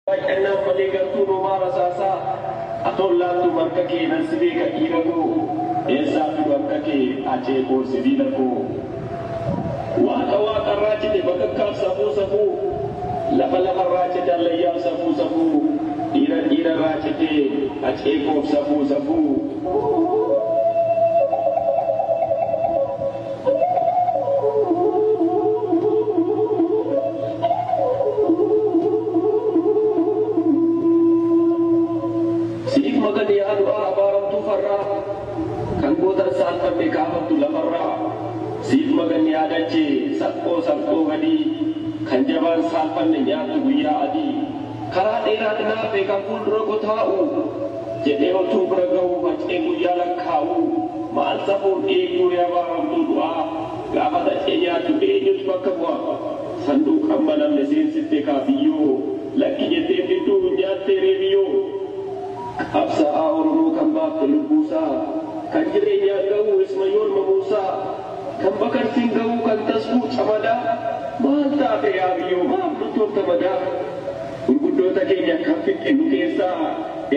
Baay'annaan malee gartuun homaa rasaasaa atoon laattu marka kee nan si beeka dhiira koo eessaa fidu akka kee acee koo sibiila koo Waaqa waaqarraa cite bakakkaaf safuu safuu lafa lafarraa cite allayyaaf safuu safuu dhiira dhiirarraa cite acee koof safuu safuu. Siif makan yaa du'aa abaaramtuu farraa kan goota saalfatte kaafattu lafarraa siif makan yaa dachee salphoo salphoo gadii kan jabaan saalfanne nyaattu guyyaa adii. Karaa dheeraa dhinaafee kan fuuldura ko taa'u Jedhee otuu bira gahuu facee guyyaa lakkaa'u Maal safuun dhiigduu ree abaaramtuu du'aa Gaafa xacee nyaattu eenyutu bakka bu'a Sanduuqa hin banamne seensifte kaa biyyoo Lakki jetteen didduu hin nyaattee ree biyyoo Qabsaa'aa Oromoo kan baafte lubbuusaa Kan jireenyaan gahuu isma yoon mamuusaa. Kan bakartiin ga'uu kan tasguu camadaa maal taate yaa biyyoo maaf luttoofta madaa gurguddoota keenya kan fixxe nu keessaa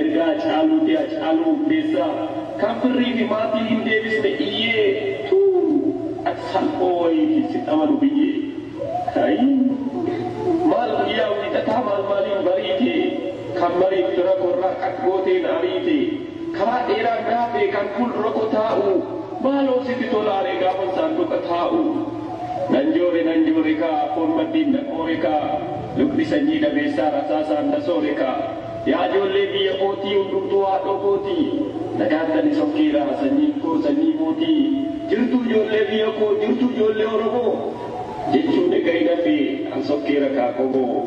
erga Hacaaluuti Hacaaluu Hundeessaa kan firrii fi maatii hin deebisne iyyee tuu ati salphoo wayiiti sin amanu biyyee ayii maal guyyaa wiixataa maal maaliin bariite kan mariif fira koo irraa qaq gootee na ariite. Karaa dheeraan raafee kan fuuldura koo taa'u Maaloo sitti tolaaree gaafan saanduqa taa'u Nan joore nan joorekaa foon maddiin na qoorekaa Lubni sanyii dhabeessaa rasaasaan na soorekaa Yaa ijoollee biyya kootii hundumtuu haadhoo kootii Nagaatti anis of keera sanyiin koo sanyii mootii Jirtuu ijoollee biyya koo jirtuu ijoollee oromoo Jechuun ega hin hafee ans of keera kaa qomoo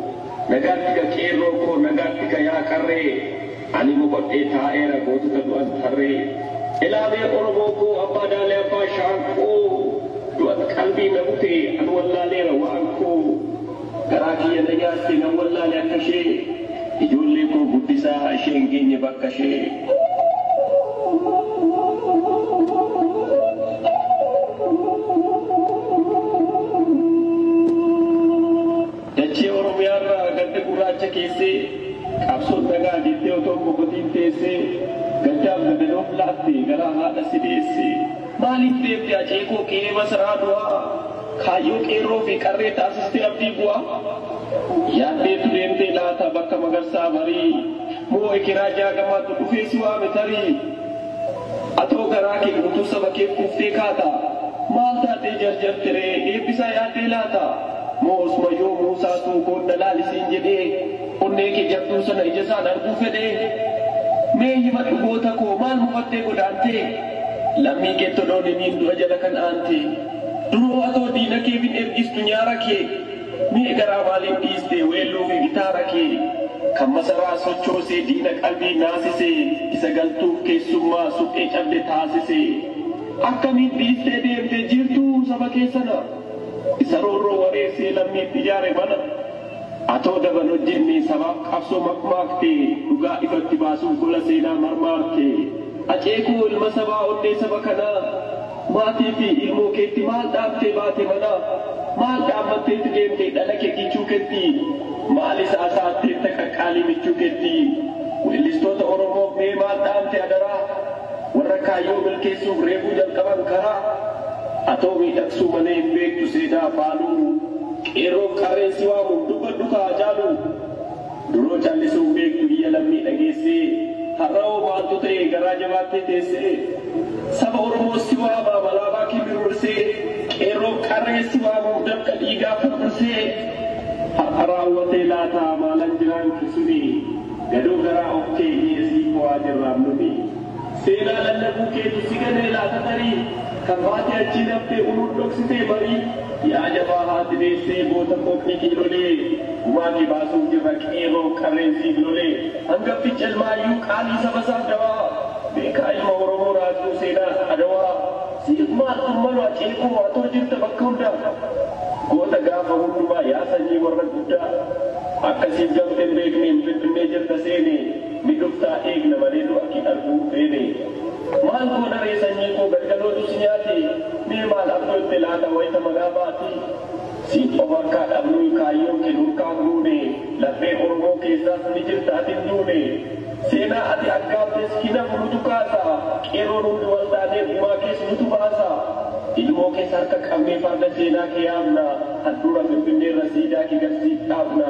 Nagaatti ka qeerroo koo nagaatti ka yaa qarree. Ani boqodhee taa'eera gootota du'an tarree Elaamee Oromoo koo abbaa daalee abbaa shaakkoo Du'at qalbii na bute an wallaaleera waan koo Garaa kiyya na nyaatte nan wallaale akka ishee Ijoollee koo guddisaa ishee hin geenye bakka ishee. Dachee Oromiyaarraa gadda gurraacha keessee qabsoon nagaa jettee otoo hin boqotiin teessee gaddaaf gadanoof laatte garaa haadha si deesse. Maaliif deemte Haceekoo qe'ee masaraa du'aa kaayyoo qeerroo fi qarree taasistee abdii bu'aa? Yaaddeetu deemtee laata bakka magarsaa barii moo ekeraa jaagamaatu dhufee si waame tarii? Atoo garaa kee guutuu saba keef kuuftee kaata? Maal taatee jarjarte ree? Eebbisaa yaaddee laata? Moo osuma yoo Muusaatuu koon na laali siin jedhee onnee kee jabduu sana ija isaan arguu fedhee? Mee himadhu goota koo maal mufattee godaantee? Lammii keetti odoon himiin du'a jala kan aantee? Duroo atoo diina keef hin ergistu nyaara kee? Mee garaa maaliif dhiiste weelluu fi gitaara kee Kan masaraa sochoosee diina qalbii naasise Isa galtuuf keessummaa suphee cabde taasise Akkamiin dhiistee deemte jiirtuu saba kee sana Isa roorroo wareersee lammiif ijaare mana Atoo daba hin hojjenne sabaaf qabsoo makmaakte Dhugaa ifatti baasuuf gola seenaa marmaarte Acee koo ilma sabaa onnee saba kanaa Maatii fi ilmoo keetti maal dhaamtee baate manaa? Maal dhaammatteeti deemte dhala kee kichuu ketti? Maalis haasa'atteetta qaqqaalii michuu ketti? Weellistoota Oromoof mee maal dhaamte adaraa? Warra kaayyoo milkeessuuf reefuu jalqaban karaa? Atoo miidhagsuu malee hin beektu seenaa faaluu? Qeerroof qarreen si waamu dubbadhu kaa Haacaaluu! Duroo callisuun beektu iyya lammii dhageessee Har'awoo maaltu ta'e garaa jabaattee teessee Saba Oromoo si waama abalaabaa kee mirmirsee Qeerroof qarree si waamuuf dafqa dhiigaa firfirsee Har'a raawwatee laata maalan jiraan kisumee Gadoo garaa of keenyee sii fowaa jirraam numee. Seenaa lallabuu keetu si ganee laata tarii Kan baatee achii daftee uluun dhoksitee marii Yaa jabaa haati deessee goota qophii kiilolee Gumaa kee baasuuf jirra qeerroof qarreen siif lolee Hangafticha ilma hayyuu qaalii saba isaaf dawaa Beekaa ilma oromoo raajuu seenaa adawaa Siif maaltu malua ceekoo atoo jirta bakka hundaa Goota gaafa hundumaa yaa sanyii warra guddaa Akka siif gamte hin beekneen finfinnee jirta seenee Ni dhuftaa eegna malee nu akki arguu feene. Maal goona ree sanyii koo galgalootu si nyaate mee maal abjootte laata wayta manaa baate? Siin qofa akkaa dhabnuy kaayyoon ke nurkaan guune laphee oromoo keessaas ni jirta ati hin duune. Seenaa ati aggaamtes hin hafu nutu kaasa qeerroon hundi wal taanee gumaa kees nutu baasa. Ilmoo kees harka qabnee farda seenaa ke yaabna handhuura finfinneerra siidaa ke gad siif dhaabna.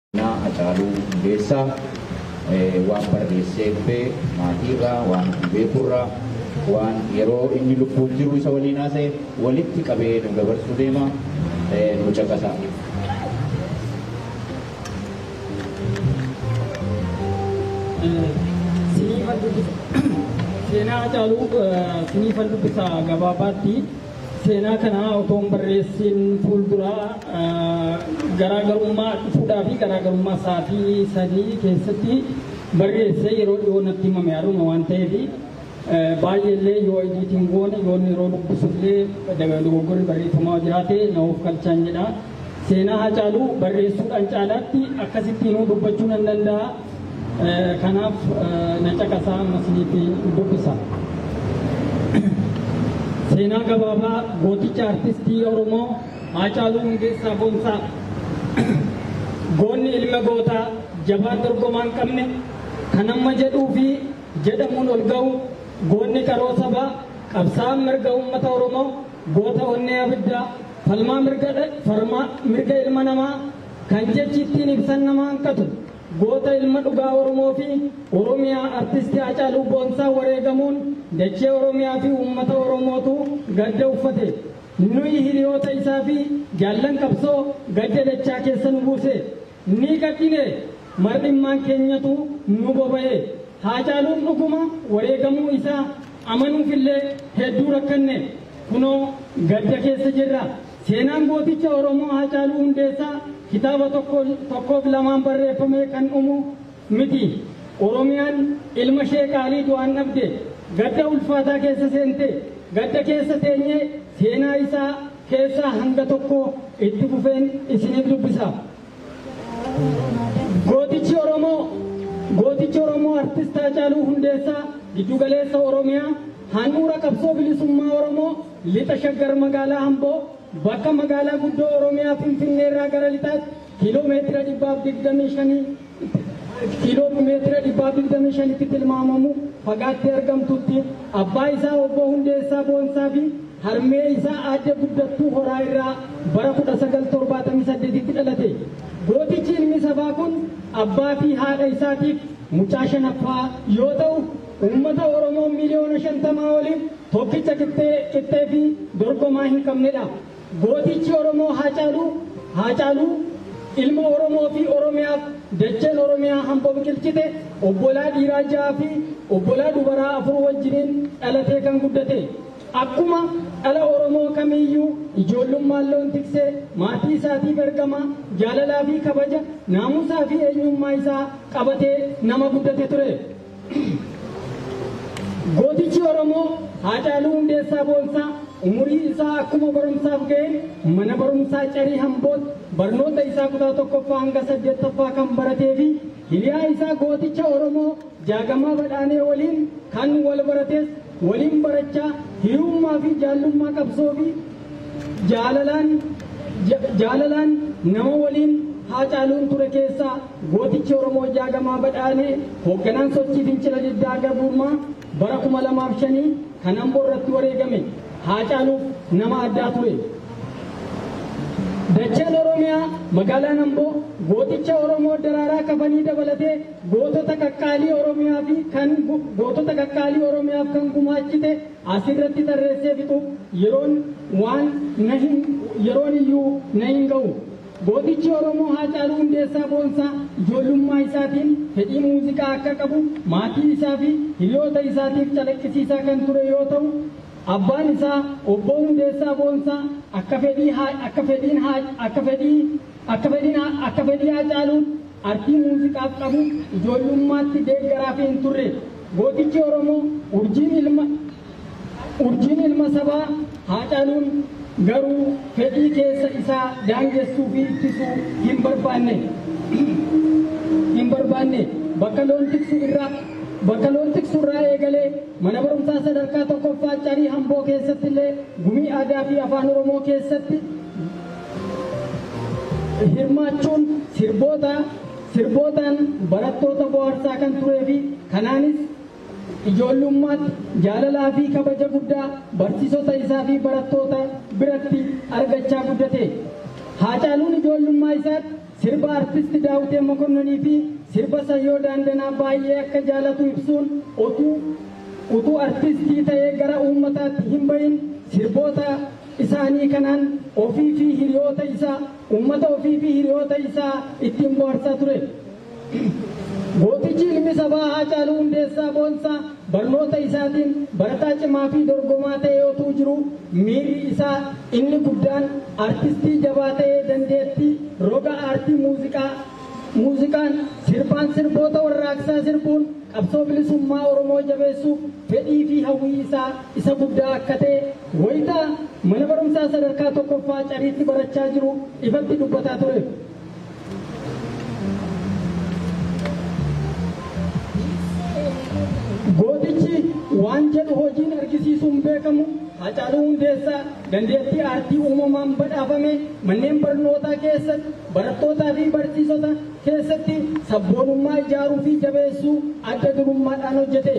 Seenaa Hacaaluu Hundeessaa waan barreessee dhufe maatiirraa, waan ofii beekurraa, waan yeroo inni lubbuun jiru isa waliin haasa'e walitti qabee nuu dabarsuu deema. Nuu caqasaa. Seenaa Hacaaluu siniifan dubbisa gabaabaatti. Seenaa kana otoo hin barreessiin fuuldura garaagarummaa fuudhaa fi garaagarummaa sa'aatii sadii keessatti barreessee yeroo dhiyoo natti himame haruma waan ta'eef baay'eellee yoo ediitiin goone yoo yeroo dubbisullee dogoggorri barreeffamaa jiraate na of galchaan jedha. Seenaa Hacaaluu barreessuudhaan caalaatti akkasittiin dubbachuu nan danda'a. Kanaaf na caqasaa amma isinitti dubbisa. Seenaa gabaabaa gooticha artistii Oromoo Haacaaluu Hundeessaa Boonsaa. Goonni ilma gootaa jabaa dorgomaa hin qabne kan amma jedhuu fi jedhamuun ol ga'u goonni qaroo sabaa qabsaa'aan mirga uummata Oromoo goota onnee abiddaa falmaa mirga ilma namaa Kan jechi ittiin ibsan nama hanqatu goota ilma dhugaa Oromoo fi Oromiyaa Artisti Haacaaluu Boonsaa wareegamuun dachee Oromiyaa fi uummata Oromootu gadda uffate. Nuyi hiriyoota isaa fi jaallan qabsoo gadda dachaa keessa nu buuse. Ni gaddine! Mar'immaan keenyatu nu boba'e. Haacaaluun dhuguma wareegamuu isaa amanuuf illee hedduu rakkanne. Kunoo gadda keessa jirra. Seenaan gooticha Oromoo Haacaaluu Hundeessaa kitaaba tokko tokkoof lamaan barreeffamee kan dhumu miti. Oromiyaan ilma ishee qaalii du'aan dhabde. Gadda ulfaataa keessa seente. Gadda keessa teenyee seenaa isaa keessaa hanga tokko itti fufeen isiniif dubbisa. Gootichi Oromoo Gootichi Oromoo Artist Haacaaluu Hundeessaa Giddu Galeessa Oromiyaa handhuura qabsoo bilisummaa Oromoo lixa shaggar magaalaa Amboo bakka magaalaa guddoo Oromiyaa Finfinnee irraa gara lixaatti kiiloo meetira dhibbaaf digdamii shanii kiiloo meetira dhibbaaf digdamii shanitti tilmaamamu fagaattee argamtutti abbaa isaa obbo Hundeessaa Boonsaa fi Harmee isaa Aadde Guddattuu Horaa irraa bara 1978tti dhalate. Gootichi ilmi sabaa kun abbaa fi haadha isaatiif mucaa shanaffaa yoo ta'u, uummata Oromoo miliyoona 50 oliif tokkicha qixxee qixxee fi dorgomaa hin qabnedha. Gootichi Oromoo Haacaaluu Haacaaluu ilma Oromoo fi Oromiyaaf dacheen Oromiyaa hamboo biqilchite obbolaa dhiiraa 6 fi obbolaa dubaraa 4 wajjiniin dhalatee kan guddate. Akkuma dhala Oromoo kamiiyyuu ijoollummaan loon tiksee maatii isaatiif ergamaa jaalalaa fi kabaja, naamusaa fi eenyummaa isaa qabatee nama guddate ture. Gootichi Oromoo Haacaaluu Hundeessaa Boonsaa umurii isaa akkuma barumsaaf ga'een mana barumsaa Carii Hamboot barnoota isaa kutaa 1ffaa hanga 8ffaa kan baratee fi Hiriyaa isaa gooticha Oromoo Jaagamaa Badhaanee waliin kan wal barates waliin barachaa hiriyummaa fi jaallummaa qabsoo fi jaalalaan jaalalaan nama waliin Haacaaluun ture keessaa gootichi Oromoo Jaagamaa Badhaanee hoogganaan sochii fincila diddaa gabrummaa bara 2005 Kan Ambo irratti wareegame Haacaaluuf nama addaa ture. Dacheen Oromiyaa magaalaan Amboo gooticha Oromoo Daraaraa Kafanii dabalatee gootota qaqqaalii Oromiyaa fi kan gootota qaqqaalii Oromiyaaf kan gumaachite asirratti tarreessee fixuuf yeroon waan na hin yeroon iyyuu na hin ga'u. Gootichi Oromoo Haacaaluu Hundeessaa Boonsaa ijoollummaa isaatiin fedhii muuziqaa akka qabu maatii isaa fi hiriyoota isaatiif calaqqisiisaa kan ture yoo ta'u, abbaan isaa Obboo Hundeessaa Boonsaa akka fedhii Haa akka fedhiin Haa akka fedhii akka fedhiin Haa akka fedhii Haacaaluun artii muuziqaaf qabu ijoollummaatti deeggaraa fi hin turre. Gootichi Oromoo urjiin ilma Urjiin ilma sabaa Haacaaluun garuu fedhii keessa isaa daangessuu fi ittisuu hin barbaanne. hin barbaanne. Bakka loon tiksu irraa bakka loon tiksu irraa eegalee mana barumsaa sadarkaa tokkoffaa Carii Hamboo keessatti illee gumii aadaa fi afaan Oromoo keessatti hirmaachuun sirboota sirbootaan barattoota bohaarsaa kan turee fi kanaanis Ijoollummaatti jaalalaa fi kabaja guddaa barsiisota isaa fi barattoota biratti argachaa guddate. Haacaaluun ijoollummaa isaatti sirba Artist Daawitee Mokonnonii fi sirba Sayyoo Daandanaa baay'ee akka jaalatu ibsuun otuu utuu artistii ta'ee gara uummataatti hin bahin sirboota isaanii kanaan ofii fi hiriyoota isaa uummata ofii fi hiriyoota isaa ittiin bohaarsaa ture. Gootichi ilmi sabaa Haacaaluu Hundeessaa Boonsaa barnoota isaatiin barataa cimaa fi dorgomaa ta'ee otuu jiruu miirri isaa inni guddaan artistii jabaa ta'ee dandeettii roga aartii muuziqaa muuziqaan sirbaan sirboota warraaqsaa sirbuun qabsoo bilisummaa Oromoo jabeessuuf fedhii fi hawwii isaa isa guddaa akka ta'e wayita mana barumsaa sadarkaa tokkoffaa Cariitti barachaa jiru ifatti dubbataa ture. Gootichi waan jedhu hojiin argisiisuun beekamu Haacaaluu Hundeessaa dandeettii aartii uumamaan badhaafame manneen barnootaa keessatti barattootaa fi barsiisota keessatti sabboonummaa ijaaruu fi jabeessuu adda durummaadhaan hojjete.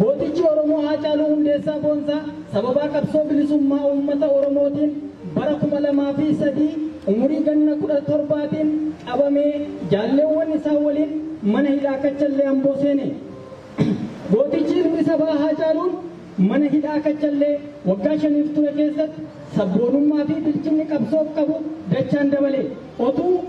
Gootichi Oromoo Haacaaluu Hundeessaa Boonsaa sababaa qabsoo bilisummaa uummata Oromootiin bara 2003 umurii ganna 17tiin qabamee jaalleewwan isaa waliin mana hidhaa Kachallee Amboo seene. Gootichi ilmi sabaa Haacaaluun mana hidhaa Kachallee waggaa shaniif ture keessatti sabboonummaa fi bilchinni qabsoof qabu dachaan dabale. Otuu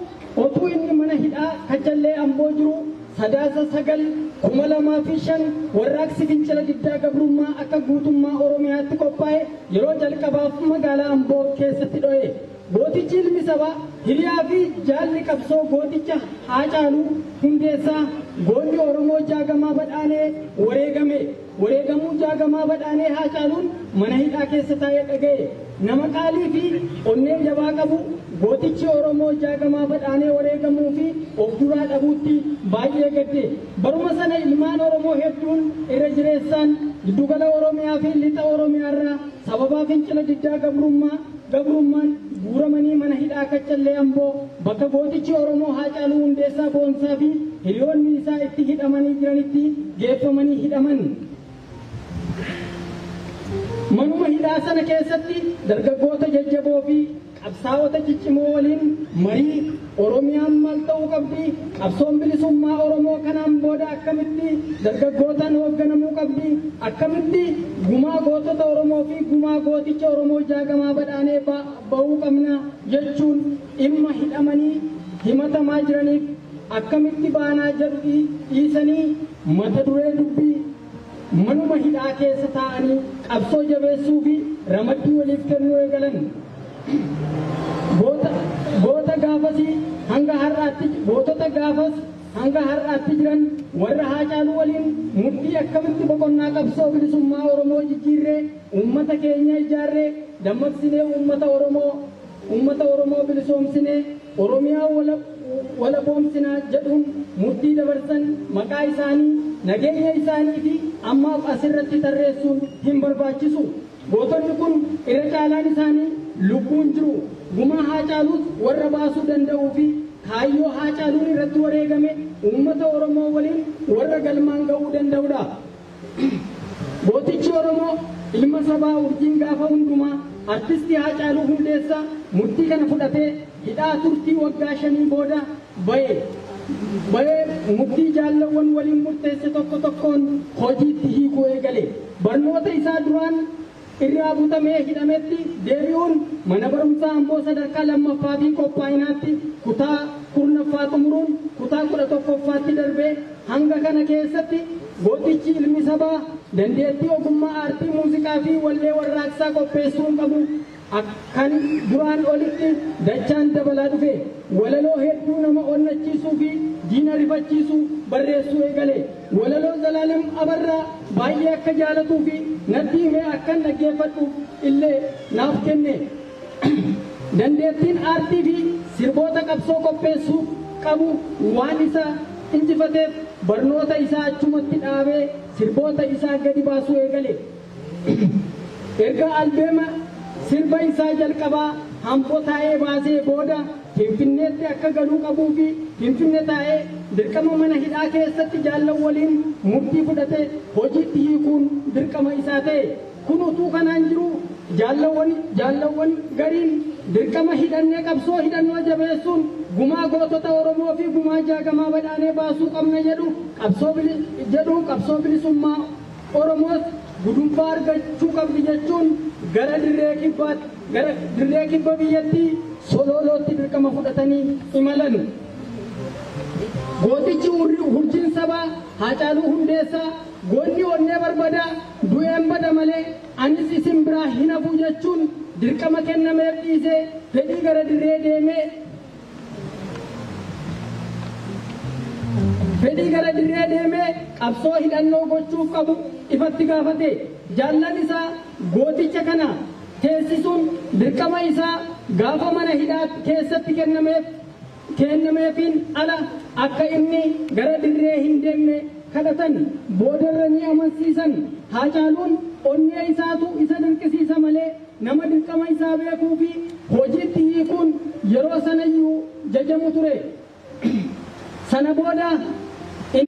Otuu inni mana hidhaa Kachallee Amboo jiru Sadaasa 9, 2005 warraaqsi fincila diddaa gabrummaa akka guutummaa Oromiyaatti qophaa'e yeroo jalqabaaf magaalaa Amboo keessatti dho'e. Gootichi ilmi sabaa, hiriyaa fi jaalli qabsoo gooticha Haacaaluu Hundeessaa, goonni Oromoo Jaagamaa Badhaanee wareegame. Wareegamuu Jaagamaa Badhaanee Haacaaluun mana hidhaa keessa taa'ee dhaga'e. Nama qaalii fi onnee jabaa qabu gootichi Oromoo Jaagamaa Badhaanee wareegamuu fi of duraa dhabuutti baay'ee gadde. Baruma sana ilmaan Oromoo hedduun irra jireessaan Giddugala Oromiyaa fi Lixa Oromiyaarraa sababaa fincila diddaa gabrummaa, gabrummaan guuramanii mana hidhaa Kaccallee Amboo bakka gootichi Oromoo Haacaaluu Hundeessaa Boonsaa fi hiriyoonni isaa itti hidhamanii jiranitti geeffamanii hidhaman. Manuma hidhaa sana keessatti dargaggoota jajjaboo fi qabsaa'ota ciccimoo waliin marii Oromiyaan maal ta'uu qabdi? Qabsoon bilisummaa Oromoo kanaan booda akkamitti dargaggootaan hoogganamuu qabdi? Akkamitti gumaa gootota Oromoo fi gumaa gooticha Oromoo Jaagamaa Badhaanee ba'uu qabna? jechuun dhimma hidhamanii himatamaa jiraniif akkamitti baanaa jedhu dhiisanii mata duree dubbii Manuma hidhaa keessa taa'anii qabsoo jabeessuu fi ramaddii waliif kennuu eegalan. Goota, goota gaafasii hanga har'aatti, gootota gaafas hanga har'aatti jiran warra Haacaaluu waliin murtii akkamitti boqonnaa qabsoo bilisummaa Oromoo jijjiirree uummata keenya ijaarree dammaqsinee uummata Oromoo Ummata Oromoo bilisoomsinee Oromiyaa walaboomsina jedhuun murtii dabarsan maqaa isaanii, nageenya isaanii fi ammaaf as irratti tarreessuun hin barbaachisu. Gootonni kun irra caalaan isaanii lubbuun jiru. Gumaa Haacaaluus warra baasuu danda'uu fi kaayyoo Haacaaluun irratti wareegame ummata Oromoo waliin warra galmaan ga'uu danda'udha. Gootichi Oromoo ilma sabaa urjiin gaafa hundumaa Artisti Haacaaluu Hundeessaa murtii kana fudhatee hidhaa turtii waggaa shanii booda ba'e. Ba'ee murtii jaallawwan waliin murteesse tokko tokkoon hojiitti hiikuu eegale. Barnoota isaa duraan. irraa butamee hidhametti deebi'uun Mana Barumsaa Amboo Sadarkaa 2ffaafi Qophaa'inaatti kutaa 10ffaa xumuruun kutaa 11ffaatti darbe hanga kana keessatti gootichi ilmi sabaa dandeettii ogummaa aartii muuziqaafi wallee warraaqsaa qopheessuun qabu kan duraan olitti dachaan dabalaa dhufe. Walaloo hedduu nama onnachiisuu fi diina rifachiisu barreessuu eegale. Walaloo Zalaalem Abarraa baay'ee akka jaalatuu fi natti himee akkan dhaggeeffadhuuf illee naaf kenne. Dandeettiin aartii fi sirboota qabsoo qopheessuu qabu waan isa injifateef barnoota isaa achumatti dhaabee sirboota isaa gadi baasuu eegale. Erga albeema sirba isaa jalqabaa Hambo taa'ee baasee booda Finfinneetti akka galuu qabuu fi Finfinne taa'ee dirqama mana hidhaa keessatti jaallan waliin murtii fudhate hojiitti hiikuun dirqama isaa ta'e. Kun utuu kanaan jiruu jaallawwan jaallawwan gariin dirqama hidhannee qabsoo hidhannoo jabeessuun gumaa gootota Oromoo fi gumaa jaagamaa badhaanee baasuu qabna jedhu qabsoo jedhu qabsoo bilisummaa Oromoos gudunfaa argachuu qabdi jechuun gara dirree kibbaatti, gara dirree kibba biyyattii Soloolootti dirqama fudhatanii imalan. Gootichi urjiin sabaa Haacaaluu Hundeessaa goonni onnee barbadaa du'een bada malee anis isin biraa hin hafu jechuun dirqama kennameef dhiisee fedhii gara dirree deemee, Fedhii gara dirree deemee qabsoo hidhannoo gochuuf qabu ifatti gaafate. Jaallan isaa gooticha kana teessisuun dirqama isaa gaafa mana hidhaa keessatti kennameef keennameefiin ala akka inni gara dirree hin deemne kadhatan. Boodarra ni amansiisan. Haacaaluun onnee isaatu isa dirqisiisa malee Nama dirqama isaa beekuu fi hojiitti hiikuun yeroo sana iyyuu jajamu ture. Sana booda inni.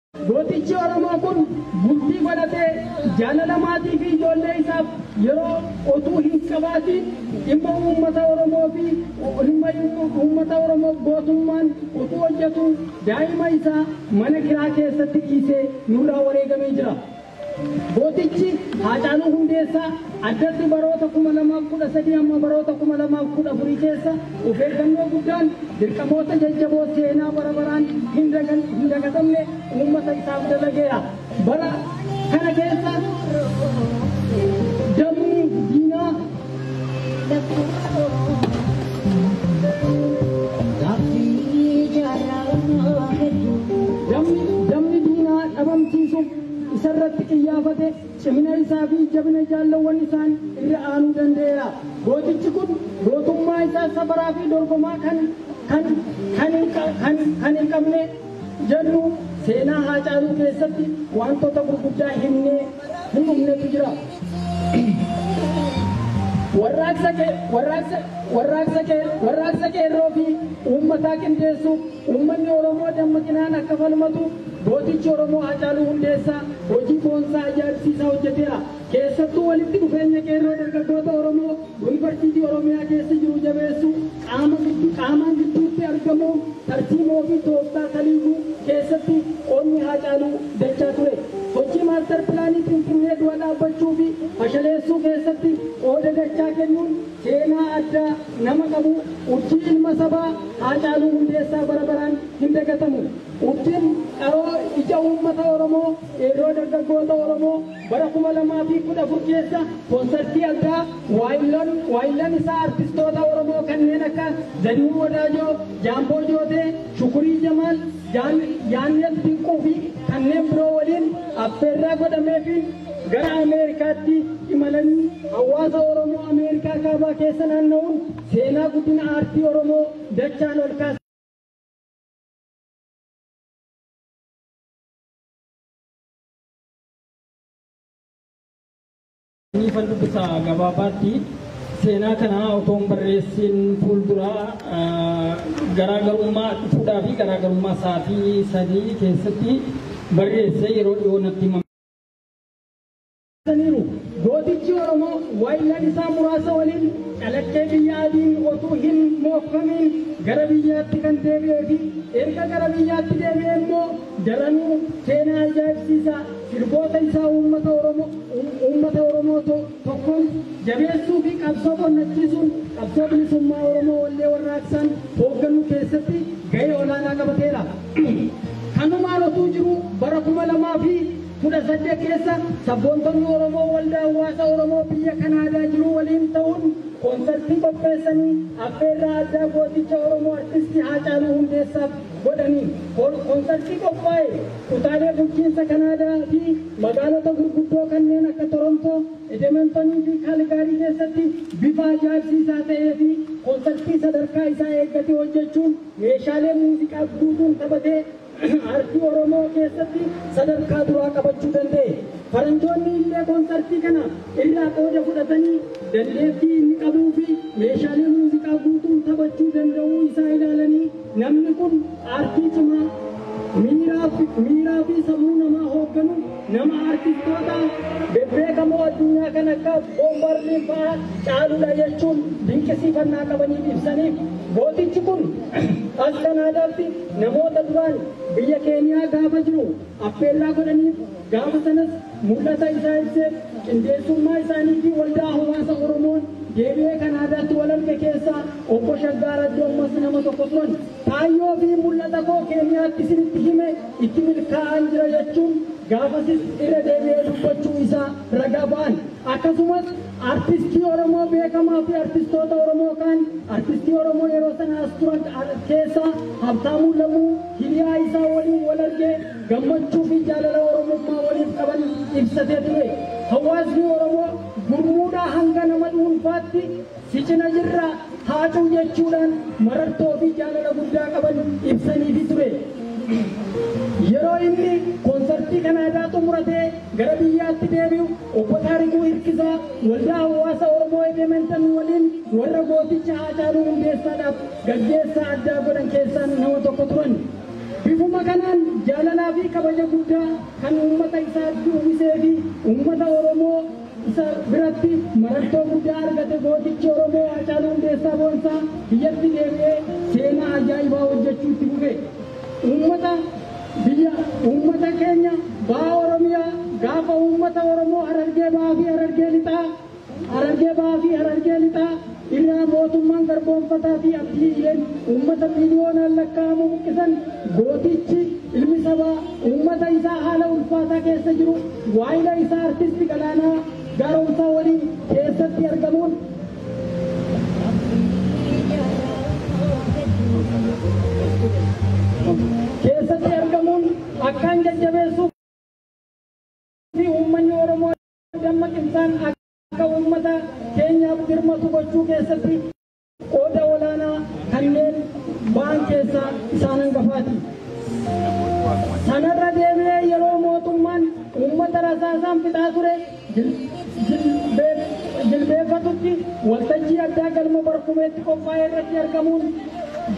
Gootichi Oromoo kun bultii godhatee jaalala maatii fi ijoollee isaaf yeroo otuu hin qabaatiin dhimma uummata Oromoo fi dhimma uummata Oromoof gootummaan otuu hojjetuu daa'ima isaa mana kiraa keessatti dhiisee nurraa wareegamee jira. Gootichi Haacaaluu Hundeessaa addatti baroota 2013 hamma baroota 2014 keessa of eeggannoo guddaan dirqamoota jajjaboo seenaa bara baraan hin dagatamne uummata isaaf dalageera. Bara kana keessa dabni diinaa dabni diinaa dhabamsiisuuf isa irratti qiyyaafate cimina isaa fi jabina jaallawwan isaan irra aanuu danda'eera. Gootichi kun gootummaa isaa safaraa fi dorgomaa kan kan kan hin qa- kan kan hin qabne jennu seenaa Haacaaluu keessatti wantoota gurguddaa himnee hin dhumnetu jira. Warraaqsa kee warraaqsa warraaqsa kee warraaqsa qeerroo fi uummataa qindeessuuf uummanni Oromoo dammaqinaan akka falmatu Gootichi Oromoo Haacaaluu Hundeessaa hojii boonsaa ajaa'ibsiisaa hojjeteera. Keessattuu walitti dhufeenya qeerroo dargaggoota Oromoo Yuunivarsiitii Oromiyaa keessa jiru jabeessuu, qaama giddu, qaamaan gidduutti argamuun tarsiimoo fi tooftaa kaliiyyuu keessatti qoodni Haacaaluu dachaa ture. Sochii Maastar Pilaanii Finfinnee dura dhaabbachuu fi fashaleessuu keessatti qooda dachaa kennuun seenaa addaa nama qabu, urjii ilma sabaa Haacaaluu Hundeessaa bara baraan hin dagatamu. Urjin dharoo ija uummata Oromoo, qeerroo dargaggoota Oromoo bara 2014 keessa konsartii addaa waayilloon waayillan isaa artistoota Oromoo kanneen akka Zarihuun Wadaajoo, Jaamboo Jootee, Shukurii Jamaal, Jaan- Yaannet Dinquu fi kanneen biroo waliin affeerraa godhameefiin gara Ameerikaatti imalanii hawaasa Oromoo Ameerikaa kaabaa keessa naanna'uun seenaa guddina aartii Oromoo dachaan ol kaasa. Niifan dubbisa gabaabaatti seenaa kana otoo hin barreessiin fuulduraa garaagarummaa fuudhaa fi garaagarummaa sa'aatii sadii keessatti barreessee yeroo dhiyoo natti himame. ibsaniiru. Gootichi Oromoo waayillan isaa muraasa waliin calaqqee biyya adiin otuu hin mookfamiin gara biyyaatti kan deebi'ee fi erga gara biyyaatti deebi'ee immoo daranuu seenaa ajaa'ibsiisaa sirboota isaa uummata Oromoo uummata Oromoo to- tokkoon jabeessuu fi qabsoo qonnachiisuun qabsoo bilisummaa Oromoo wallee warraaqsaan hoogganuu keessatti gahee olaanaa qabateera. Kanumaan otuu jiru bara kuma lamaa fi 18 keessa sabboontonni Oromoo Waldaa Hawwaasa Oromoo biyya Kanaadaa jiruu waliin ta'uun konsartii qopheessanii affeerraa addaa gooticha Oromoo Artisti Haacaaluu Hundeessaaf godhaniin konsartii qophaa'e kutaalee bulchiinsa Kanaadaa fi magaalota gurguddoo kanneen akka Torontoo, Edementonii fi Kaaligaarii keessatti bifa ajaa'ibsiisaa ta'ee fi konsartii sadarkaa isaa eeggate hojjechuun meeshaalee muuziqaa guutuun taphatee Aartii Oromoo keessatti sadarkaa duraa qabachuu danda'e. Faranjoonni illee konsartii kana irraa qooda fudhatanii dandeettii inni qabuu fi meeshaalee muuziqaa guutuun taphachuu danda'uu isaa ilaalanii namni kun aartii cimaa miiraa fi- miiraa fi sammuu namaa hoogganu nama aartistoota bebbeekamoo addunyaa kan akka boombarlii fa'aa caaludha jechuun dinqisiifannaa qabaniif ibsaniif gootichi kun as kanaadaatti Namoota duraan biyya Keeniyaa gaafa jiru affeerraa godhaniif gaafa sanas mul'ata isaa ibseef qindeessummaa isaaniitiin waldaa hawaasa Oromoon deebi'ee Kanaadaatti wal arge keessaa Obbo Shaggaa Raddoommas nama tokko turan. Kaayyoo fi mul'ata koo Keeniyaatti isinitti hime itti milkaa'aan jira jechuun gaafasis irra deebi'ee dubbachuu isaa ragaa ba'an. Akkasumas. Artistii Oromoo beekamaa fi artistoota Oromoo kaan artistii Oromoo yeroo sana as turan keessaa Habtaamuu Lamuu hiriyaa isaa waliin wal argee gammachuu fi jaalala Oromummaa waliif qaban ibsatee ture. Hawaasni Oromoo gurmuudhaa hanga nama dhuunfaatti si cina jirra Haacuu jechuudhaan marartoo fi jaalala guddaa qaban ibsaniifi ture. Yeroo inni koonsartii Kanaadaa xumuratee gara biyyaatti deebi'u Obbo Taarikuu Hirkisaa Waldaa Hawwaasa Oromoo Edementan waliin warra gooticha Haacaaluu Hundeessaadhaaf gaggeessaa addaa godhan keessaa nama tokko turan. Bifuma kanaan jaalalaa fi kabaja guddaa kan uummata isaatti uwwisee fi uummata Oromoo isa biratti marartoo guddaa argate gootichi Oromoo Haacaaluu Hundeessaa Boonsaa biyyatti deebi'ee seenaa ajaa'ibaa hojjechuu itti fufe. Uummata Biyya, uummata keenya, Baha Oromiyaa, gaafa uummata Oromoo Harargee Bahaa fi Harargee Lixaa, Harargee Bahaa fi Harargee Lixaa, irraa mootummaan garboomfataa fi abdiileen uummata miiliyoonaan lakkaa'amu buqqisan, gootichi, ilmi sabaa, uummata isaa haala ulfaataa keessa jiru, waayila isaa Artisti Galaanaa Gaaromsaa waliin keessatti argamuun, keessatti argamuun akkaan jajjabeessuu fi uummanni Oromoo dammaqinaan akka uummata keenyaaf dirmatu gochuu keessatti qooda olaanaa kanneen ba'an keessaa isaan hangafaati. Sanarra deebi'ee yeroo mootummaan uummata rasaasaan fixaa ture jilbeeffatutti waltajjii addaa galma Barkumeetti qophaa'e irratti argamuun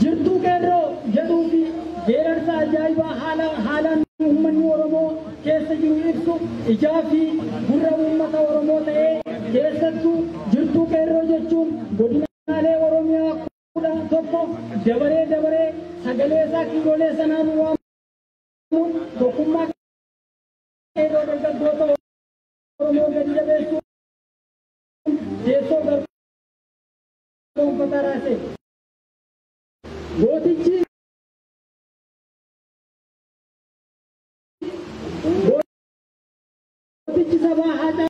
Jirtuu Qeerroo jedhuu fi geerarsa ajaa'ibaa haalaan uummanni Oromoo keessa jiru ibsu ijaa fi gurra uummata Oromoo ta'ee keessattuu Jirtuu Qeerroo jechuun godinaalee Oromiyaa kudha tokko dabaree dabaree sagalee isaa kiiloolee sanaan waamuun tokkummaa Qeerroo dargaggoota Oromoo gadi jabeessuun teessoo barnoota raase. Gootichi gootichi sabaa haacaa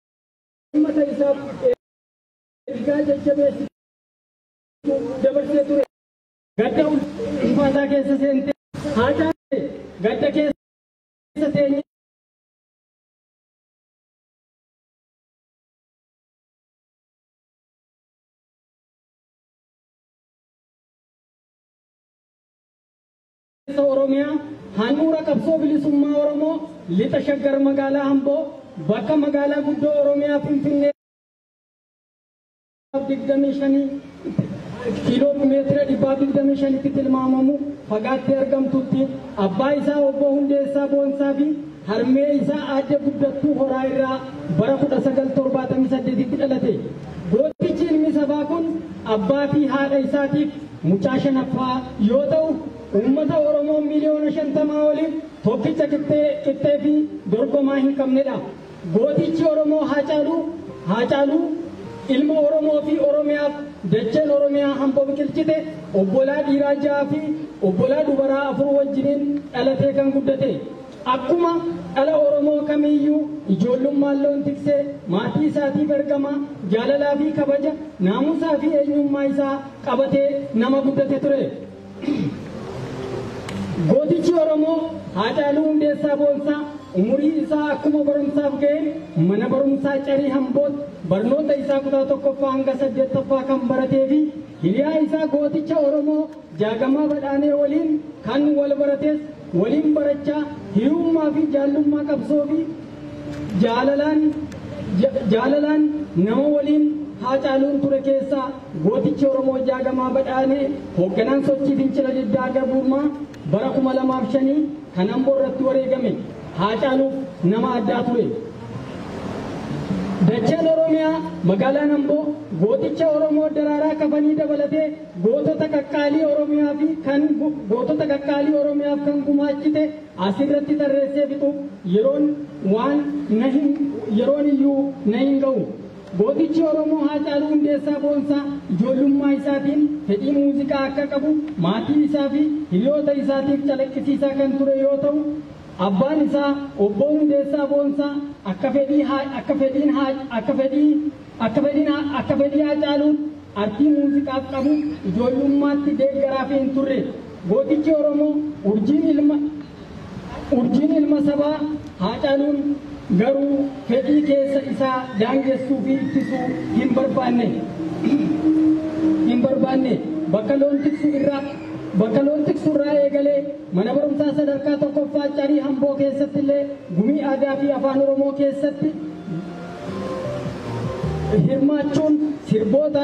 ummata isaaf ergaa jajjabeessu dabarsee ture. Gadda ulfaataa keessa seentee haa caalte gadda keessa teenyee. Kaleessa Oromiyaa handhuura qabsoo bilisummaa Oromoo Lixa Shaggar magaalaa Amboo bakka magaalaa guddoo Oromiyaa Finfinnee 25 kiiloomeetira 125tti tilmaamamu fagaattee argamtutti abbaa isaa obbo Hundeessaa Boonsaa fi harmee isaa aadde Guddattuu Horaa irraa bara 1978tti dhalate. Gootichi ilmi sabaa kun abbaa fi haadha isaatiif Mucaa shanaffaa yoo ta'u, uummata Oromoo miliyoona 50 oliif tokkicha qixxee qixxee fi dorgomaa hin qabnedha. Gootichi Oromoo Haacaaluu, Haacaaluu, ilma Oromoo fi Oromiyaaf dacheen Oromiyaa hamboo biqilchite, obbolaa dhiiraa 6 fi obbolaa dubaraa 4 wajjiniin dhalatee kan guddate. Akkuma dhala Oromoo kamiiyyuu ijoollummaan loon tiksee maatii isaatiif ergama, jaalalaa fi kabaja, naamusaa fi eenyummaa isaa qabate nama guddate ture. Gootichi Oromoo Haacaaluu Hundeessaa Boonsaa umurii isaa akkuma barumsaaf ga'een mana barumsaa Carii Hamboot barnoota isaa kutaa tokkoffaa hanga saddeettaffaa kan baratee fi hiriyaa isaa gooticha Oromoo Jaagamaa Badhaanee waliin kan wal barates waliin barachaa hiriyummaa fi jaallummaa qabsoo fi Jaalalaan Jaalalaan nama waliin Haacaaluun ture keessaa gootichi Oromoo Jaagamaa Badhaanee hoogganaan sochii fincila diddaa garbummaa bara 2005 kan Amboo irratti wareegame Haacaaluuf nama addaa ture. Dacheen Oromiyaa magaalaan Amboo gooticha Oromoo Daraaraa Kafanii dabalatee gootota qaqqaalii Oromiyaa fi kan gootota qaqqaalii Oromiyaaf kan gumaachite As irratti tarreessee fixuuf yeroon waan na hin yeroon iyyuu na hin ga'u. Gootichi Oromoo Haacaaluu Hundeessaa Boonsaa ijoollummaa isaatiin fedhii muuziqaa akka qabu maatii isaa fi hiriyoota isaatiif calaqqisiisaa kan ture yoo ta'u, abbaan isaa Obboo Hundeessaa Boonsaa akka fedhii akka fedhiin akka fedhii Akka fedhina akka fedhii Haacaaluun artii muuziqaaf qabu ijoollummaatti deeggaraafii hin turre. Gootichi Oromoo urjiin ilma urjiin ilma sabaa Haacaaluun garuu fedhii keessa isaa daangessuu fi ittisuu hin barbaanne. hin barbaanne. Bakka loon tiksu irraa bakka loon tiksu irraa eegalee mana barumsaa sadarkaa tokkoffaa Carii Hamboo keessatti illee gumii aadaa fi afaan Oromoo keessatti hirmaachuun sirboota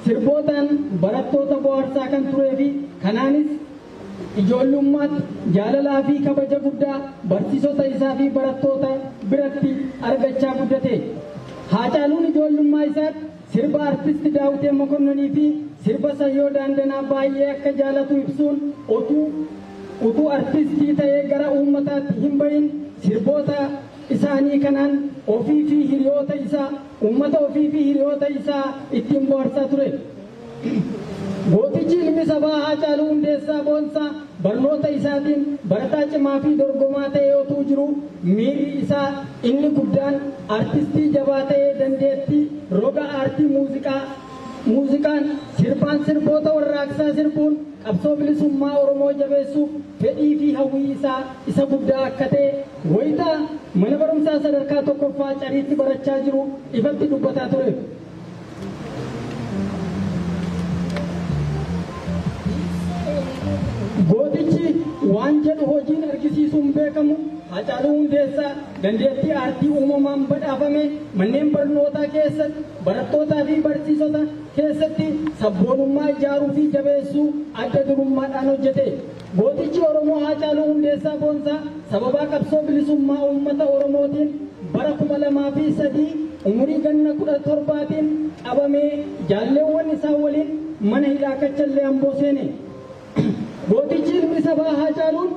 sirbootaan barattoota bohaarsaa kan turee fi kanaanis ijoollummaatti jaalalaa fi kabaja guddaa barsiisota isaa fi barattoota biratti argachaa guddate. Haacaaluun ijoollummaa isaatti sirba artisti Daawitee Mokonnonii fi sirba Sayyoo Daandanaa baay'ee akka jaalatu ibsuun otuu utuu artistii ta'ee gara uummataatti hin bahin sirboota isaanii kanaan ofii fi hiriyoota isaa, uummata ofii fi hiriyoota isaa ittiin bohaarsaa ture. Gootichi ilmi sabaa Haacaaluu Hundeessaa Boonsaa barnoota isaatiin barataa cimaa fi dorgomaa ta'ee otuu jiruu miirri isaa inni guddaan artistii jabaa ta'ee dandeettii roga aartii muuziqaa, muuziqaan, sirbaan sirboota warraaqsaa sirbuun qabsoo bilisummaa Oromoo jabeessuuf fedhii fi hawwii isaa isa guddaa akka ta'e Wayita mana barumsaa sadarkaa tokkoffaa Cariitti barachaa jiru ifatti dubbataa tureef. Gootichi waan jedhu hojiin argisiisuun beekamu Haacaaluu Hundeessaa dandeettii aartii uumamaan badhaafame manneen barnootaa keessatti barattootaa fi barsiisota keessatti sabboonummaa ijaaruu fi jabeessuu adda durummaadhaan hojjete. Gootichi Oromoo Haacaaluu Hundeessaa Boonsaa sababaa qabsoo bilisummaa uummata Oromootiin bara 2003 umurii ganna 17tiin qabamee jaalleewwan isaa waliin mana hidhaa Kachallee Amboo seene. Gootichi ilmi sabaa Haacaaluun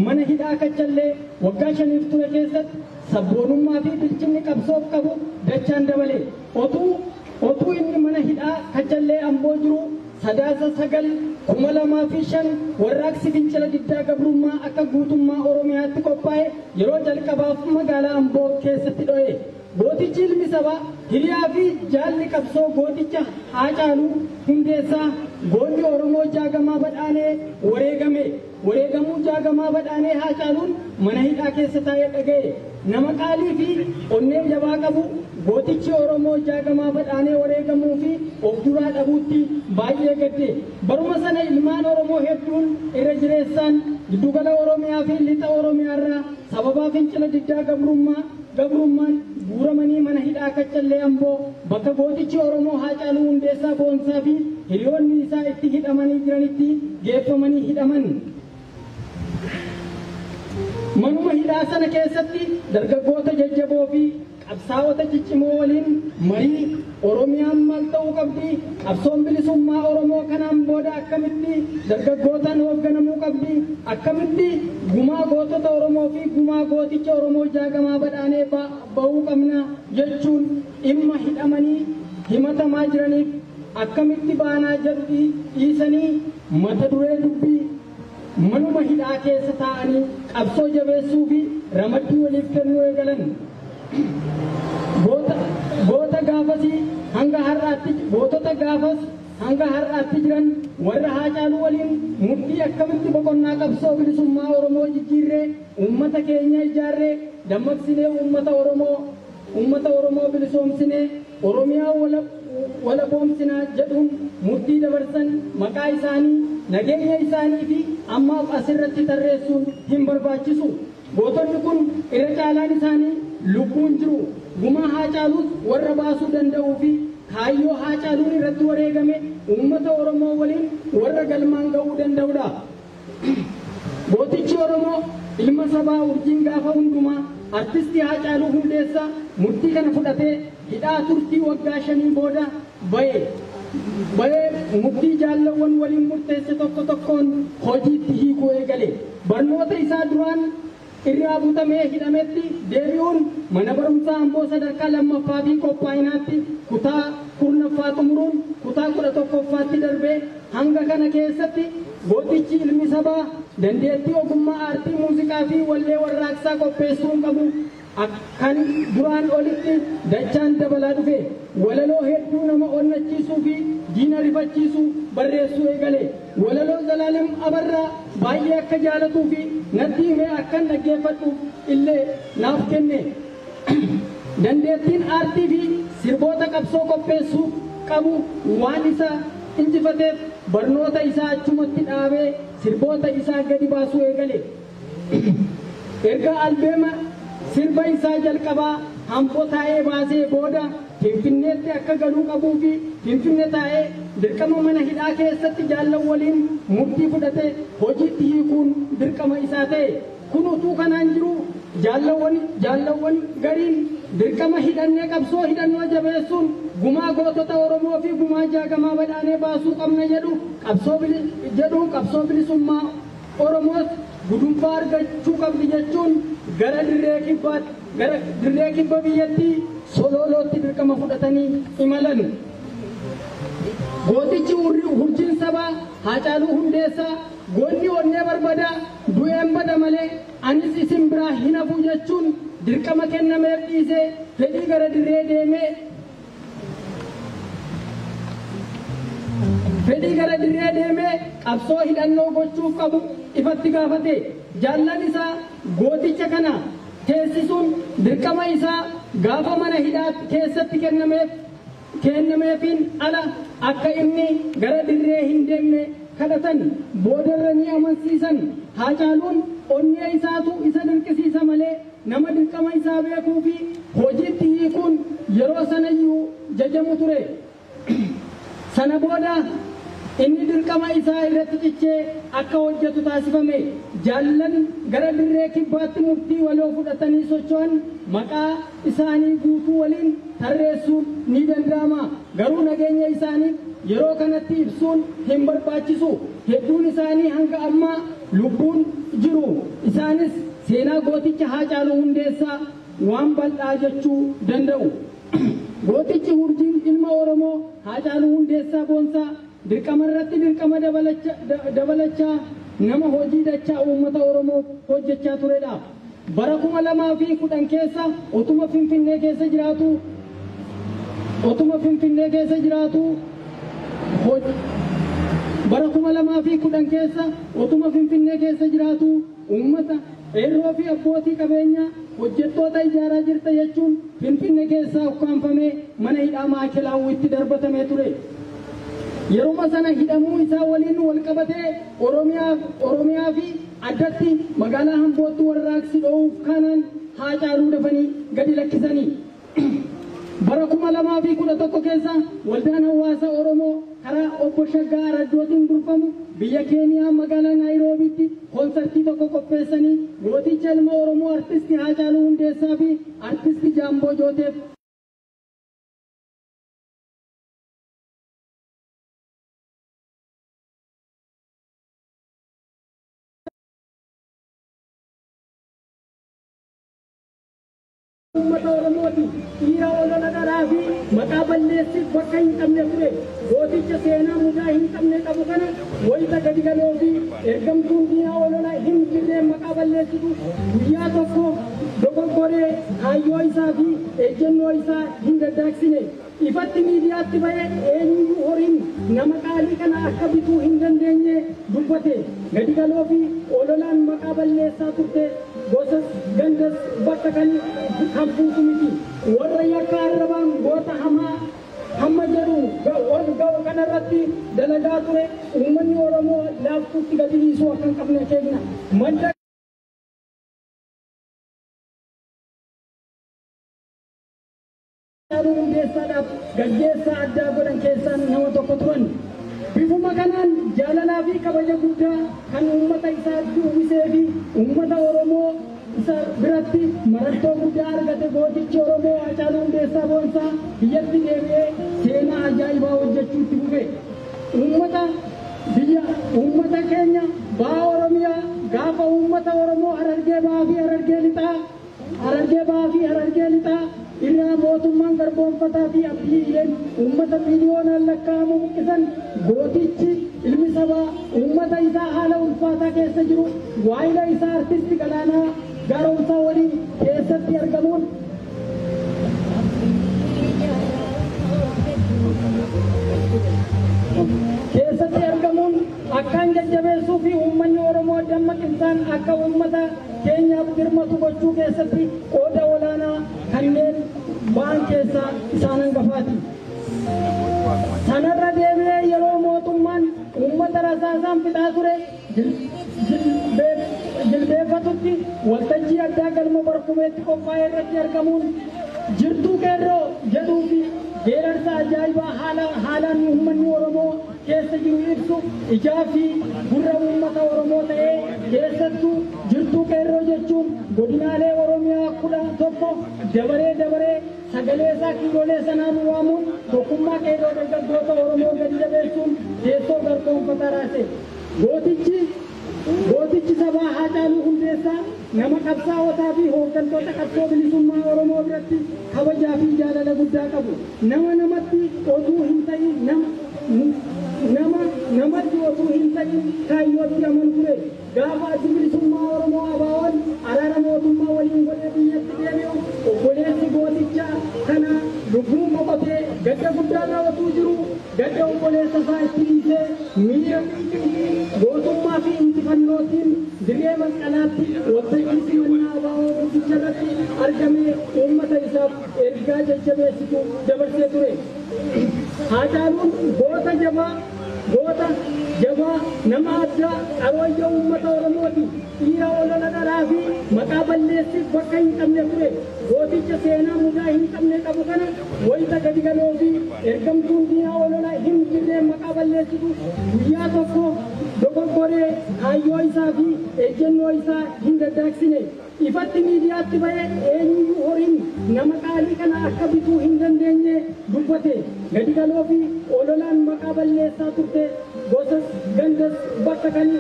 mana hidhaa Kachallee waggaa shaniif ture keessatti sabboonummaa fi bilchinni qabsoof qabu dachaan dabale. Otuu, Otuu inni mana hidhaa Kachallee Amboo jiru Sadaasa 9, 2005 warraaqsi fincila diddaa gabrummaa akka guutummaa Oromiyaatti qophaa'e yeroo jalqabaaf magaalaa Amboo keessatti dho'e. Gootichi ilmi sabaa, hiriyaa fi jaalli qabsoo gooticha Haacaaluu Hundeessaa, goonni Oromoo Jaagamaa Badhaanee wareegame. Wareegamuu Jaagamaa Badhaanee Haacaaluun mana hidhaa keessa taa'ee dhaga'e. Nama qaalii fi onnee jabaa qabu gootichi Oromoo Jaagamaa Badhaanee wareegamuu fi of duraa dhabuutti baay'ee gadde. Baruma sana ilmaan Oromoo hedduun irra jireessaan Giddugala Oromiyaa fi Lixa Oromiyaarraa sababaa fincila diddaa gabrummaa, gabrummaan guuramanii mana hidhaa Kaccallee Amboo bakka gootichi Oromoo Haacaaluu Hundeessaa Boonsaa fi hiriyoonni isaa itti hidhamanii jiranitti geeffamanii hidhaman. Manuma hidhaa sana keessatti dargaggoota jajjaboo fi qabsaa'ota ciccimoo waliin marii Oromiyaan maal ta'uu qabdi? Qabsoon bilisummaa Oromoo kanaan booda akkamitti dargaggootaan hoogganamuu qabdi? Akkamitti gumaa gootota Oromoo fi gumaa gooticha Oromoo Jaagamaa Badhaanee ba'uu qabna jechuun dhimma hidhamanii himatamaa jiraniif akkamitti baanaa jedhu dhiisanii mata duree dubbii Manuma hidhaa keessa taa'anii qabsoo jabeessuu fi ramaddii waliif kennuu eegalan. Goota, goota gaafasii hanga har'aatti, gootota gaafas hanga har'aatti jiran warra Haacaaluu waliin murtii akkamitti boqonnaa qabsoo bilisummaa Oromoo jijjiirree uummata keenya ijaarree dammaqsinee uummata Oromoo Ummata Oromoo bilisoomsinee Oromiyaa walaboomsina jedhuun murtii dabarsan maqaa isaanii, nageenya isaanii fi ammaaf as irratti tarreessuun hin barbaachisu. Gootonni kun irra caalaan isaanii lubbuun jiru. Gumaa Haacaaluus warra baasuu danda'uu fi kaayyoo Haacaaluun irratti wareegame ummata Oromoo waliin warra galmaan ga'uu danda'u dha. Gootichi Oromoo ilma sabaa urjiin gaafa hundumaa Artisti Haacaaluu Hundeessaa murtii kana fudhatee hidhaa turtii waggaa shanii booda ba'e. Ba'ee murtii jaallawwan waliin murteesse tokko tokkoon hojiitti hiikuu eegale. Barnoota isaa duraan irraa butamee hidhametti deebi'uun Mana Barumsaa Amboo Sadarkaa 2ffaa fi Qophaa'inaatti kutaa 10ffaa xumuruun kutaa 11ffaatti darbee hanga kana keessatti gootichi ilmi sabaa dandeettii ogummaa aartii muuziqaa fi wallee warraaqsaa qopheessuun qabu kan duraan olitti dachaan dabalaa dhufe. Walaloo hedduu nama onnachiisuu fi diina rifachiisu barreessuu eegale. Walaloo Zalaalem Abarraa baay'ee akka jaalatuu fi natti himee akkan dhaggeeffadhuuf illee naaf kenne. Dandeettiin aartii fi sirboota qabsoo qopheessuu qabu waan isa injifateef barnoota isaa achumatti dhaabee sirboota isaa gadi baasuu eegale. Erga albeema sirba isaa jalqabaa Hambo taa'ee baasee booda Finfinneetti akka galuu qabuu fi Finfinne taa'ee dirqama mana hidhaa keessatti jaallan waliin murtii fudhate hojiitti hiikuun dirqama isaa ta'e. Kun utuu kanaan jiruu jaallawwan jaallawwan gariin dirqama hidhannee qabsoo hidhannoo jabeessuun gumaa gootota Oromoo fi gumaa jaagamaa badhaanee baasuu qabna jedhu qabsoo bili jedhu qabsoo bilisummaa Oromoos gudunfaa argachuu qabdi jechuun gara dirree kibbaatti, gara dirree kibba biyyattii Soloolootti dirqama fudhatanii imalan. Gootichi urri, hurjiin sabaa Haacaaluu Hundeessaa goonni onnee barbadaa du'een bada malee anis isin biraa hin hafu jechuun dirqama kennameef dhiisee fedhii gara dirree deemee Fedhii gara dirree deemee qabsoo hidhannoo gochuuf qabu ifatti gaafate. Jaallan isaa gooticha kana teessisuun dirqama isaa gaafa mana hidhaa keessatti kennameef keennameefiin ala akka inni gara dirree hin deemne kadhatan. Boodarra ni amansiisan. Haacaaluun onnee isaatu isa dirqisiisa malee. Nama dirqama isaa beekuu fi hojiitti hiikuun yeroo sanayyuu jajamu ture. Sana booda inni dirqama isaa irratti cichee akka hojjetu taasifame. Jaallan gara dirree kibbaatti murtii waloo fudhatanii socho'an maqaa isaanii guutuu waliin tarreessuun ni danda'ama. Garuu nageenya isaanii yeroo kanatti ibsuun hin barbaachisu. Hedduun isaanii hanga ammaa lubbuun jiru. Isaanis seenaa gooticha Haacaaluu Hundeessaa waan bal'aa jechuu danda'u. Gootichi Hurjiin ilma Oromoo Haacaaluu Hundeessaa Boonsaa, Dirqama irratti dirqama dabalachaa nama hojii dachaa uummata Oromoof hojjechaa turedha. Bara 2010 keessa otuma Finfinnee keessa jiraatuu otuma Finfinnee keessa jiraatuu bara 2010 keessa otuma Finfinnee keessa jiraatuu Uummata, qeerroo fi abbootii qabeenyaa, hojjettoota ijaaraa jirta jechuun Finfinne keessaa ukkaamfamee mana hidhaa Maa'ikelaawwiitti darbatamee ture. Yeruma sana hidhamuu isaa waliin wal qabatee Oromiyaa fi addatti magaalaa Ambootti warraaqsi dho'uuf kaanaan Haacaaluu dafanii gadi lakkisani. Bara 2011 keessa Waldaan Hawaasa Oromoo karaa Obbo Shaggaa Araddootiin durfamu biyya Keeniyaa magaalaa Naayiroobiitti konsartii tokko qopheessanii gooticha ilma Oromoo Artisti Haacaaluu Hundeessaa fi Artisti Jaamboo Jooteef Uummata Oromooti dhiira olola dharaa fi maqaa balleessiif bakka hin qabne ture. Gooticha seenaa mudaa hin qabne qabu kana wayita gadi galoo fi ergamtuun diinaa olola hin jirreen maqaa balleessitu guyyaa tokko dogoggoree kaayyoo isaa fi ejjennoo isaa hin daddaaksine. Ifatti miidiyaatti ba'ee eenyuyyuu horiin nama qaalii kana akka bituu hin dandeenye dubbate. Gadi galoo fi ololaan maqaa balleessaa turte gosas gandas bakka kan kan buutu miti. Warra yakka arrabaan goota hamaa hamma jedhu ol ga'u kana irratti dalagaa ture uummanni Oromoo laaftuutti gadi dhiisuu akka hin qabne akeekna. Madda. Haacaaluu Hundeessaadhaaf gaggeessaa addaa godhan keessaa nama tokko turan. Bifuma kanaan jaalalaa fi kabaja guddaa kan uummata isaatti uwwisee fi uummata Oromoo isa biratti marattoo guddaa argate gootichi Oromoo Haacaaluu Hundeessaa Boonsaa biyyatti deebi'ee seenaa ajaa'ibaa hojjechuu itti fufe. Uummata biyya uummata keenya baha Oromiyaa gaafa uummata Oromoo Harargee Bahaa fi Harargee Lixaa Harargee Bahaa fi Harargee Lixaa irraa mootummaan garboomfataa fi abbiyyeen uummata miiliyoonaan lakkaa'amu buqqisan gootichi ilmi sabaa uummata isaa haala ulfaataa keessa jiru waayila isaa artisti Galaanaa Gaaromsaa waliin keessatti argamuun keessatti argamuun akkaan jajjabeessuu fi uummanni Oromoo dammaqinsaan akka uummata keenyaaf dirmatu gochuu keessatti qooda olaanaa kanneen ba'an keessaa isaan hangafaati. Sanarra deebi'ee yeroo mootummaan uummata rasaasaan fixaa ture jilbeeffatutti waltajjii addaa galma barkumeetti qophaa'e irratti argamuun jirtuu qeerroo jedhuu fi geerarsa ajaa'ibaa haalaan uummanni Oromoo keessa jiru ibsu ijaa fi gurra uummata Oromoo ta'ee keessattuu jirtuu qeerroo jechuun godinaalee Oromiyaa kudha tokko dabaree dabaree sagalee isaa kiiloolee sanaan waamuun tokkummaa qeerroo dargaggoota Oromoo gadi jabeessuun teessoo garboonfataa raase. Gootichi Gootichi sabaa Haacaaluu Hundeessaa nama qabsaa'otaa fi hooggantoota qabsoo bilisummaa Oromoo biratti kabajaa fi jaalala guddaa qabu, nama namatti otuu hin ta'iin nama namatti otuu hin ta'iin kaayyootti amanu ture. Gaafa Addi Bilisummaa Oromoo ABOn araara mootummaa waliin godhee biyyatti deebi'u obboleessi gooticha kanaa lubbuun boqotee gadda guddaarra otuu jiruu, Gadda obboleessa isaa itti dhiisee miira xiiqii, gootummaa fi injifannootiin dirree Masqalaatti waltajjii simannaa abo guddicha irratti argamee uummata isaaf ergaa jajjabeessitu dabarsee ture. Haacaaluun goota jabaa, goota jabaa, nama addaa, qarooyyoo uummata Oromooti. Dhiira olola dharaa fi maqaa balleessiif bakka hin qabne ture. Gooticha seenaa mudaa hin qabne qabu kana Wayita gadigaloo fi ergamtuun diinaa olola hin jirreen maqaa balleessitu guyyaa tokko dogoggoree kaayyoo isaa fi ejjennoo isaa hin daddaaksine ifatti miidiyaatti ba'ee eenyuyyuu horiin nama qaalii kana akka bituu hin dandeenye dubbate. Gadigaloo fi ololaan maqaa balleessaa turte gosas gandas bakka kan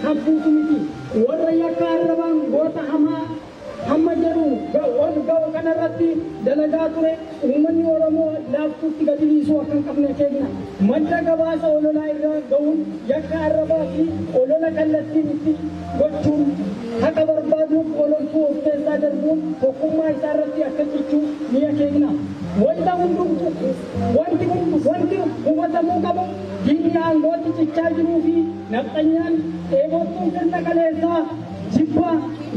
kan buusu miti. Warra yakka arrabaan goota hamaa hamma jedhu ol ga'u kana irratti dalagaa ture uummanni Oromoo laaftuutti gadi dhiisuu akka hin qabne akeekna. Madda gabaasa ololaa irra ga'uun yakka arrabaa fi olola kallattiin itti gochuun haqa barbaaduuf ololtuu of keessaa darbuun tokkummaa isaa irratti akka cichu ni akeekna. Wanta hundumtu wanti hundu wanti hubatamuu qabu diinni aangootti cichaa jiruu fi nafxanyaan dheebottuun sirna kaleessaa Jibba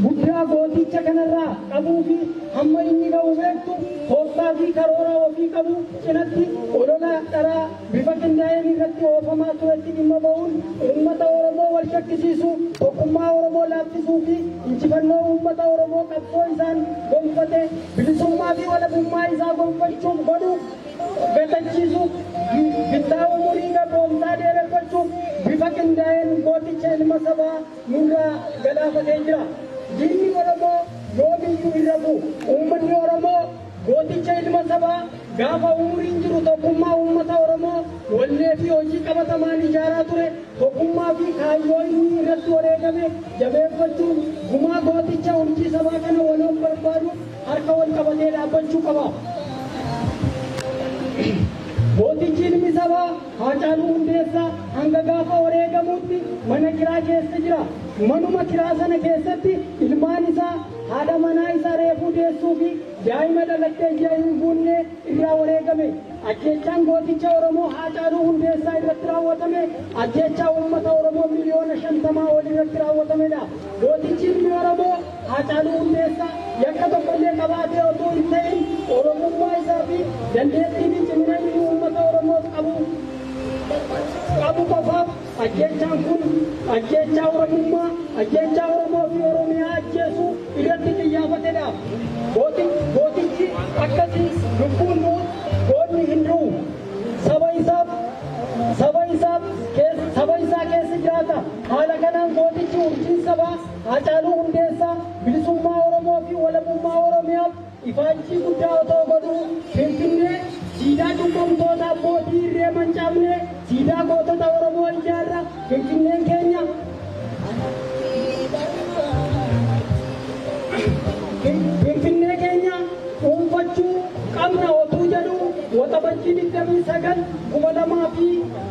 guddaa gootiicha kanarraa qabuu fi hamma inni gahu beektu tooftaa fi karoora ofii qabu cinatti olola dharaa bifa qindaa'een irratti oofamaa turetti dhimma ba'uun uummata Oromoo wal shakkisiisuu, tokkummaa Oromoo laaffisuu fi injifannoo uummata Oromoo qabsoo isaan gonfate bilisummaa fi walabummaa isaa gonfachuuf godhu gatachiisuuf bittaa umurii gabroomsaa dheereffachuuf bifa qindaa'een gooticha ilma sabaa nurraa galaafatee jira. Diinni Oromoo yoomiyyuu hin rafu. Uummanni Oromoo gooticha ilma sabaa gaafa umuriin jiru tokkummaa uummata Oromoo wallee fi hojii qabatamaan ijaaraa ture tokkummaa fi kaayyoo inni irratti wareegame jabeeffachuun gumaa gooticha urjii sabaa kana waloon barbaaduuf harka wal qabatee dhaabbachuu qaba. Gootichi ilmi sabaa Haacaaluu Hundeessaa hanga gaafa wareegamuutti mana kiraa keessa jira. Manuma kiraa sana keessatti ilmaan isaa, haadha manaa isa reefuu deessuu fi daa'ima dhalattee ji'a hin guunnee irraa wareegame. Ajjeechaan gooticha Oromoo Haacaaluu Hundeessaa irratti raawwatame ajjeechaa uummata Oromoo miliyoona shantamaa ol irratti raawwatamedha. Gootichi ilmi Oromoo. Haacaaluu Hundeessaa yakka tokkollee qabaatee otuu hin ta'in Oromummaa isaa fi dandeettii fi cimina inni uummata Oromoof qabu qabu qofaaf ajjeechaan kun ajjeechaa Oromummaa, ajjeechaa Oromoo fi Oromiyaa ajjeesuu irratti qiyyaafate dha. Gooti, gootichi akkasii lubbuun du'us goonni hin du'u. Saba isaaf, saba isaaf, saba isaa keessa jiraata. Haala kanaan gootichi urjiin sabaa, Haacaaluu Hundeessaa bilisummaa Oromoo fi walabummaa Oromiyaaf ifaajjii guddaa otoo godhuu Finfinnee siidaa cubbamtoota abbootii irree mancaafnee siidaa gootota Oromoo ijaarra Finfinneen keenya Finfinnee keenya dhuunfachuu qabna otuu jedhuu Waxabajjii 29 2000 fi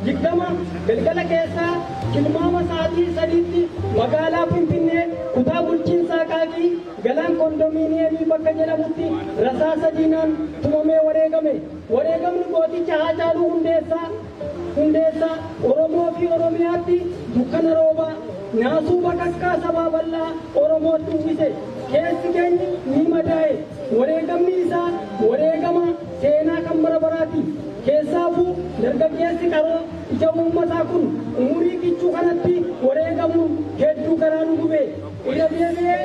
20 galgala keessaa tilmaama sa'aatii 3tti magaalaa Finfinnee kutaa bulchiinsa Aqaaqii Galaan Kondomiiniyemii bakka jedhamutti rasaasa diinaan tumamee wareegame. Wareegamni gooticha Haacaaluu Hundeessaa Hundeessaa Oromoo fi Oromiyaatti dukkana roobaa, naasuu bakakkaa sabaa bal'aa Oromootti uwwise. Keessi keenya ni madaa'e. Wareegamni isaa wareegama. Seenaa kan bara baraati. Keessaafuu dargaggeessi qaroo ija uummataa kun umurii kichuu kanatti wareegamuun hedduu garaa nu gube. Irra deebi'ee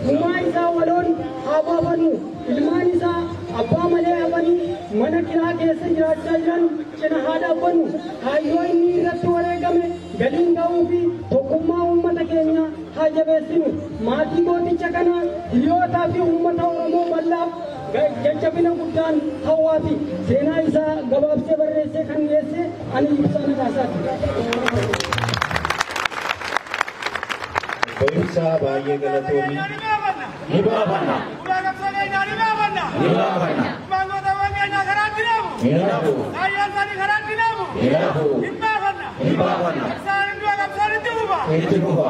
gumaa isaa waloon haa baafannu. Ilmaan isaa abbaa malee hafanii mana kiraa keessa jiraachaa jiran cina haa dhaabbannu. Kaayyoo inni irratti wareegame galiin ga'uufi tokkummaa uummata keenyaa haa jabeessinu. Maatii gooticha kanaa, hiriyootaa fi uummata Oromoo bal'aaf Jajjabina guddaan hawwaa fi seenaa isaa gabaabsee barreessee kan dhiyeesse ani Ibsaa Nagaasaati. Barumsaa baay'ee galatoomi. Ni baafanna. Ni baafanna. Ni hafu. Ni hafu. Ni baafanna. Itti fufa.